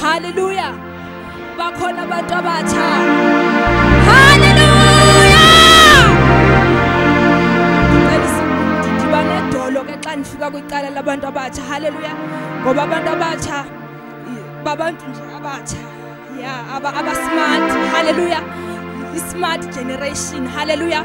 haleluya bakhona abantu abatsha haleluya ndiba nedolo ke xa ndifika kwicala labantu abatsha haleluya ngoba abantu abatsha babantu nje abatsha ya abasimart haleluya i-smart generation haleluya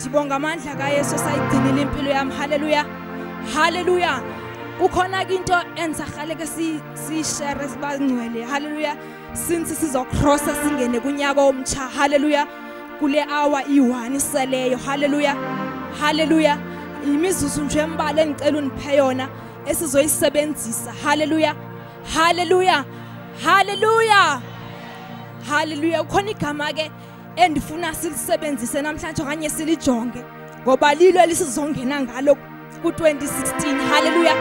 ndibonga amandla kayesu esayigcinile impilo yam halleluya halleluya kukhona ke into endisarhale ke siyishere sibangcwele halleluya since sizokrosa singene kunyaka omtsha halleluya kule awa iyi-one iseleyo halleluya halleluya yimizuzu nje embali endicela undiphe yona esizoyisebenzisa halleluya halleluya halleluya halleluya kukhona igama ke endifuna silisebenzise namhlanje okanye silijonge ngoba lilo elisizongena ngalo ku-2016 halleluya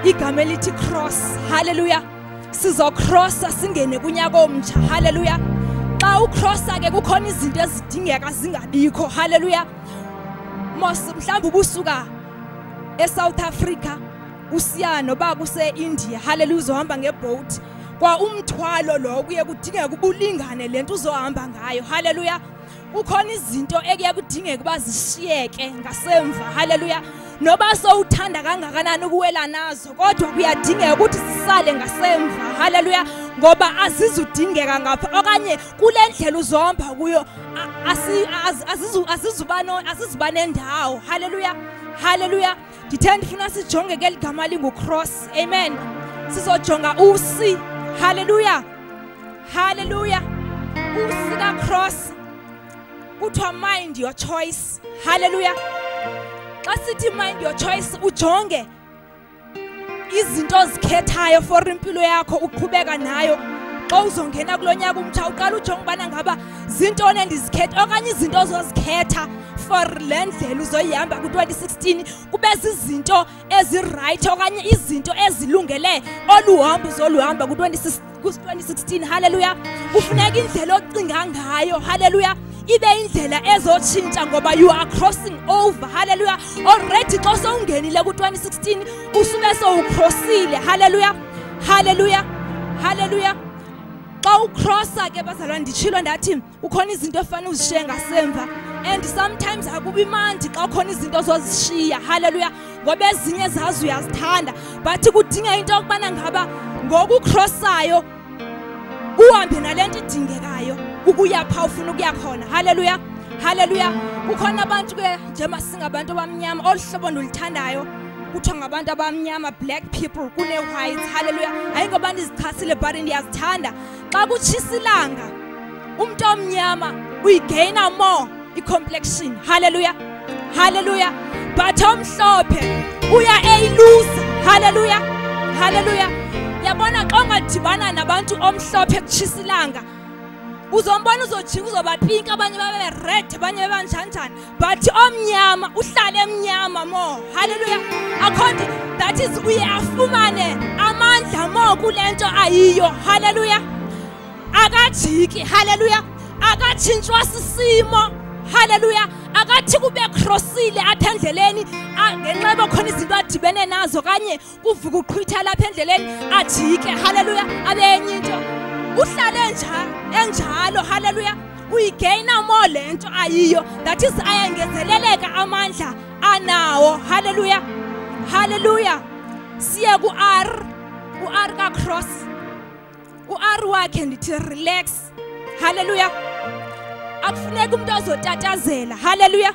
igama elithi cross halleluya sizokrosa singene kunyaka omtsha halleluya xa ukrosa ke kukhona izinto ezidingeka zingabikho halleluya mos mhlawumbi ubusuka esouth africa usiya noba kuse-india haleluya uzohamba ngebhowuti kwa umthwalo lo kuye kudingeka uba ulingane le nto uzohamba ngayo haleluya kukhona izinto ekuye kudingeka uba zishiyeke ngasemva haleluya noba sowuthanda kangakanani ukuwela nazo kodwa kuyadingeka ukuthi zisale ngasemva haleluya ngoba azizudingeka ngapha okanye kule ndlela uzohamba kuyo azizuba nendawo haleluya haleluya ndithe ndifuna sijonge ke ligama lingukross amen sizojonga usi halleluya halleluya usi kakross kuthiwa mind your choice halleluya xa sithi mind your choice ujonge izinto ozikhethayo for impilo yakho uqhubeka nayo xa uzongena kulo nyaka umtsha uqala ujonge ubana ngaba zintoni endizikhetha okanye izinto ozozikhetha for le ndlela uzoyihamba ku-2016 kube zizinto ezirayithi okanye izinto ezilungele olu hambo uzoluhamba ku-2016 halleluya kufuneka indlela ocinga ngayo halleluya ibe indlela ezotshintsha ngoba you are crossing over halleluya already xa sowungenile ku-2016 usube sowucrossile halleluya halleluya halleluya xa ucrossa ke bazalwa nditshilo ndathi kukhona izinto efanele uzishiye ngasemva and sometimes akubi mandi xa khona izinto zozishiya halleluya ngoba ezinye zazi uyazithanda but kudinga into yokubana ngaba ngokukhrosayo uhambe nale nto idingekayo ukuya pha ufuna ukuya khona halleluya halleluya kukhona abantu ke njengoba singabantu abamnyama olu hlobo ndiluthandayo kuthiwa ngabantu abamnyama black people kune-whites halleluya ayingobantu izichasile but ndiyazithanda xa kutshisa ilanga umntu omnyama uyigaina more icomplexion halleluya halleluya but omhlophe uya eyiluza halleluya halleluya yabona xa ungadibana nabantu omhlophe kutshisa ilanga uzombona uzojika uzobapinki abanye babe red abanye bebanjanjani but omnyama uhlale emnyama mo halleluya akhonti that is uye afumane amandla mo kule nto ayiyo halleluya akajiki halleluya akatshintshwa sisimo halleluya akathi kube krosile apha endleleni ngenxa yoba khona izinto adibene nazo kanye kuvuka uqhwitha lapha endleleni ajike haleluya abe enye into uhlale enjalo haleluya uyigeyina more le nto ayiyo that is ayangezeleleka amandla anawo haleluya haleluya siye ku-r u-r kacross u-r wakhe ndithi relax haleluya akufuneka umntu ozotatazela haleluya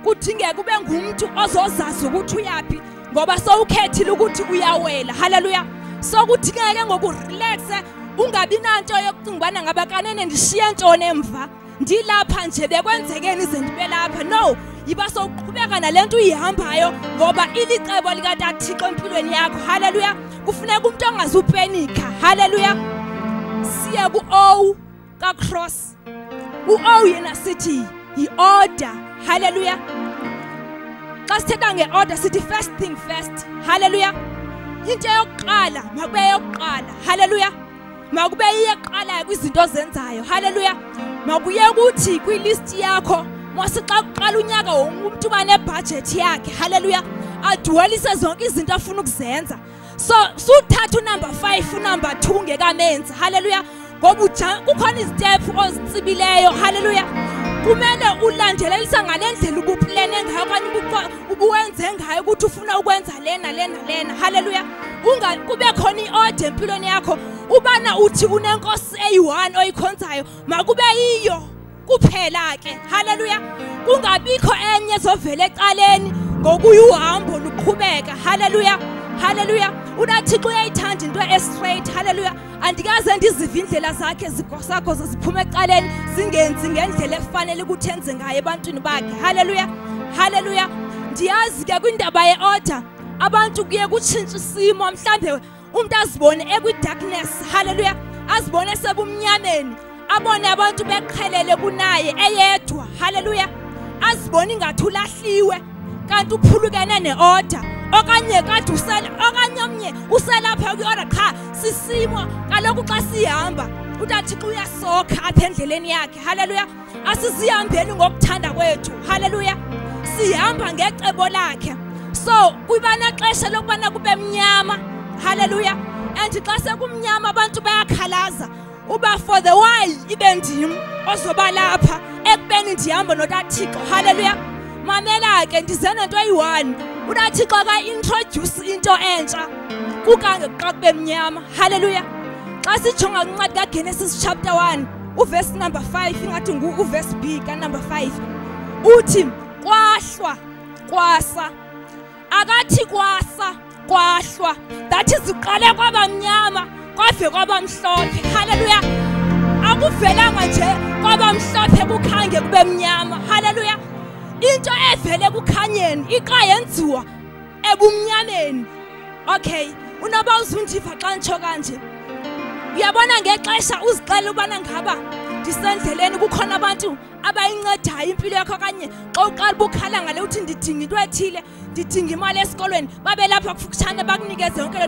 kudingeka ube ngumntu ozozazi ukuthi uyaphi ngoba sowukhethile ukuthi uyawela haleluya sokudingeka ke ngokurelaxe ungabi nanto yokucinga ubana ngaba kanene ndishiye ntoni emva ndilapha nje bekwenzekeni ize ndibe lapha no yiba sowuqhubeka nale nto uyihambayo ngoba ilicebo likatathixo empilweni yakho haleluya kufuneka umntu ongazupenika haleluya siye ku-o kacross u-ow yena sithi yi-order halleluya xa sithetha nge-order sithi first thing first halleluya into yokuqala makube yokuqala halleluya makube iyeqalayo kwizinto ozenzayo halleluya makuye kuthi kwilisti yakho mose xa kuqala unyaka wonke umntu uba nebhajethi yakhe halleluya adwelise zonke izinto afuna ukuzenza so suthatha unumber five unumber two ngekamenzi halleluya ngoba uja kukhona izitephu ozitsibileyo halleluya kumele ulandelelisa ngale ndlela ubuplene ngayo okanye ubuwenze ngayo ukuthi ufuna ukwenza lena lena lena halleluya kube khona i-ode empilweni yakho ubana uthi unenkosi eyi-one oyikhonzayo makube yiyo kuphela ke haleluya kungabikho enye ezovela ecaleni ngokuya uhambo luqhubeka haleluya haleluya unathixo uyayithanda into estraight haleluya andikaze ndizive indlela zakhe zikosakho ziphuma ecaleni zingenzi ngendlela efanele ukuthi enze ngayo ebantwini bakhe haleluya haleluya ndiyazi ke kwindaba ye-order abantu kuye kutshintsha isimo mhlawumbe umuntu azibone ekwi-darkness halleluya azibone sebumnyameni abone abantu beqhelele kunaye eyedwa halleluya azibone ingathi ulahliwe kanti uphulukene ne-order okanye kade usela okanye omnye uselapha kwi-order qha sisimo kaloku xa sihamba utathixo uyasokha apha endleleni yakhe halleluya asisihambeni ngokuthanda kwethu haleluya sihamba ngecebo lakhe so kwibanaxesha lokubana kube mnyama haleluya and xa sekumnyama abantu bayakhalaza uba for the while ibe ndim ozoba lapha ekubeni ndihamba notathixo haleluya mamela ke ndize nento eyi-one unathixo akaintrodyuse into entsha kukange xa kube mnyama haleluya xa sijonga kwincwadi kagenesis chapter 1 uvesi number 5 ingathi ngu uvesi b kanumber 5 uthi kwahlwa kwasa akathi kwasa kwahlwa that is uqale kwabamnyama kwave kwabamhlophe haleluya akuvelanga nje kwabamhlophe kukhange kube mnyama haleluya into evele kukhanyeni iqa yenziwa ebumnyaneni okay unoba uzundiva xa nditsho kanje uyabona ngexesha uzixela ubana ngaba ndisendleleni kukhona abantu abayincedayo impilo yakho okanye xa uqala ubukhala ngale uthi ndidinga into ethile ndidinga imali esikolweni babelapha kufutshane bakunikeze yonke